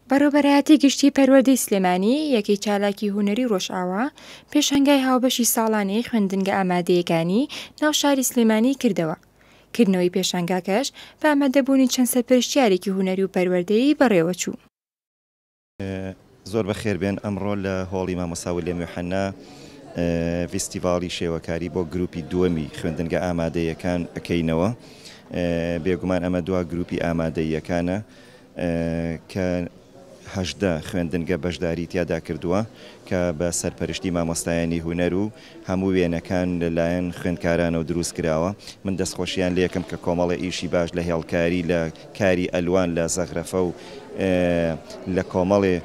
بەڕێوەبەرایەتی گشتی پەروەردەی سلێمانی یەکەی چالاکی هونەری ڕۆژئاوا پێشەنگای هاوبەشی ساڵانەی خوێندنگە ئامادەیەکانی ناو شاری سلێمانی کردەوە کردنەوەی پێشەنگاکەش بە ئامادەبوونی چەند سەرپەرشتیارێکی هونەری و پەروەردەیی بەڕێوەچوو زۆر بەخێربێن ئەمڕۆ لە هۆڵی مامۆستا ولیەم یوحەنا ڤیستیڤاڵی شێوەکاری بۆ گروپی دووەمی خوێندنگە ئامادەیەکان ئەکەینەوە بێگومان ئەمە دوا گروپی ئامادەیەکانە کە هەژدە خوێندنگە بەشداری تیادا کردووە کە بە سەرپەرشتی مامۆستایانی هوەر و هەموو وێنەکان لە لایەن خوێندکارانەوە دروست کراوە. من دەستخۆشیان لێکم کە کۆمەڵە ئیشی باش لە هێڵکاری، لە کاری ئەلوان، لە زەغرەفە و لە کۆمەڵێ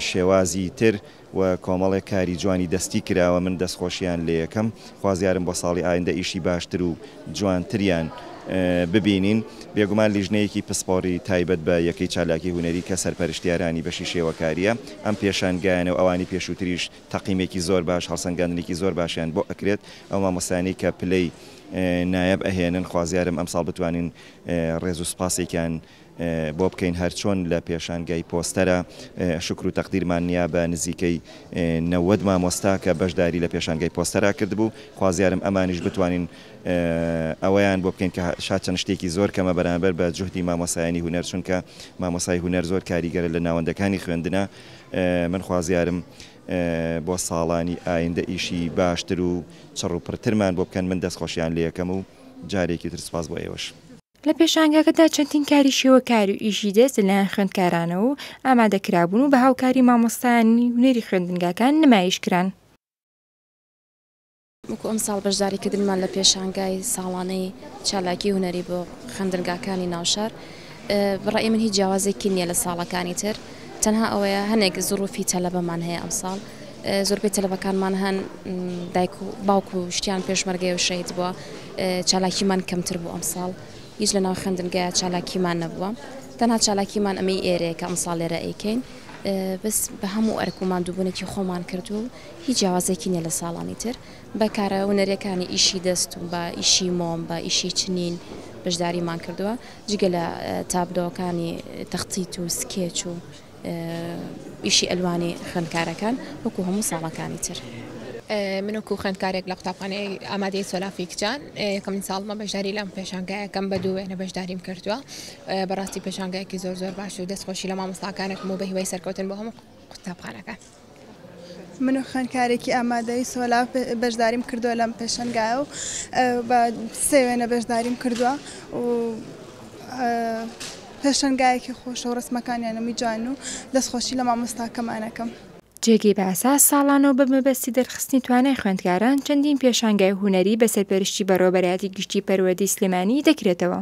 شێوازی تر و کۆمەڵێ کاری جوانی دەستی کراوە. من دەستخۆشیان لێکم. خوازیارم بۆ ساڵی ئایندە ئیشی باشتر و جوانتریان ببینین. بێگومان لیژنەیەکی پسپۆڕی تایبەت بە یەکەی چالاکی هونەری کە سەرپەرشتیارانی بەشی شێوەکارییە ئەم پێشانگایانە و ئەوانی پێشووتریش تەقیمێکی زۆر باش هەڵسەنگاندنێکی زۆر باشیان بۆ ئەکرێت ئەو مامۆستایانەی کە پلەی نایەب ئەهێنن خوازیارم ئەمساڵ بتوانین ڕێزو سوپاسێکیان بۆ بکەین هەرچۆن لە پێشانگای پۆستەرە شکر و تەقدیرمان نیا بە نزیکەی نەوەد مامۆستا کە بەشداری لە پێشانگای پۆستەرا کردبوو خوازیارم ئەمانیش بتوانین ئەوەیان بۆ بکەین کە شاد چەند شتێکی زۆر کەمە بەرامبەر بە جوهدی مامۆسایانی هونەر چونکە مامۆسای هونەر زۆر کاریگەرە لە ناوەندەکانی خوێندنە من خوازیارم بۆ ساڵانی ئایندە ئیشی باشتر و چڕ و پڕترمان بۆ بکەن، من دەستخۆشیان لێکەم و جارێکی تر سوپاس بۆ ئێوەش. لە پێشانگاکەدا چەندین کاری شێوەکار و ئیشی دەست لە لایەن خوێندکارانەوە و ئامادە کرابوون و بە هاوکاری مامۆستایانی هونەری خوێندنگاکان نمایش کران. وەکو ئەمساڵ بەشداریکردنمان لە پێشانگای ساڵانەی چالاکی هونەری بۆ خوێندنگاکانی ناوشار بەڕای من هیچ جیاوازێکی نییە لە ساڵەکانی تر تەنها ئەوەیە هەنێک زڕوفی تەلەبەمان هەیە ئەمساڵ زۆربەی تەلەبەکانمان هەن دایک و باوکو و شتیان پێشمەرگەی و شەید بووە چالاکیمان کەمتر بوو ئەمساڵ هیچ لە ناو خوێندنگە چالاکیمان نەبووە تەنها چالاکیمان ئەمەی ئێرەیە کە ئەمساڵ لێرە ئەیکەین بەس بە هەموو ئەرک و مادووبوونێکی خۆمان کردو هیچ جیاوازیەکی نیە لە ساڵانی تر بە کارە هونەریەکانی ئیشی دەست و بە ئیشی مۆم بە ئیشی چنین بەشداریمان کردوە جگە لە تابلۆکانی تەختیت و سکێچ و ئیشی ئەلوانی خوێندکارەکان وەکو هەموو ساڵەکانی تر. من وەکو خوێندکارێک لە قوتابخانەی ئامادەی سۆلافی کچان یەکەمین ساڵمە بەشداری لەم پێشانگایەکەم بە دوو وێنە بەشداریم کردووە بەڕاستی پێشانگایەکی زۆر زۆر باش و دەستخۆشی لە مامۆستاکانێکم و بە هیوای سەرکەوتن بۆ هەموو قوتابخانەکان. من و خوێندکارێکی ئامادەی سۆلا بەشداریم کردووە لەم پێشنگایە و بە سێ وێنە بەشداریم کردووە و پێشنگایەکی خۆشە و ڕسمەکانیانەمی جوان و دەستخۆشی لە مامۆستاکەمانەکەم. جێگەی باسە ساڵانە و بە مەبەستی دەرخستنی توانای خوێندکاران چەندین پێشانگای هونەری بە سەرپەرشتی بەڕێوەبەرایەتی گشتی پەروەردەی سلێمانی دەکرێتەوە.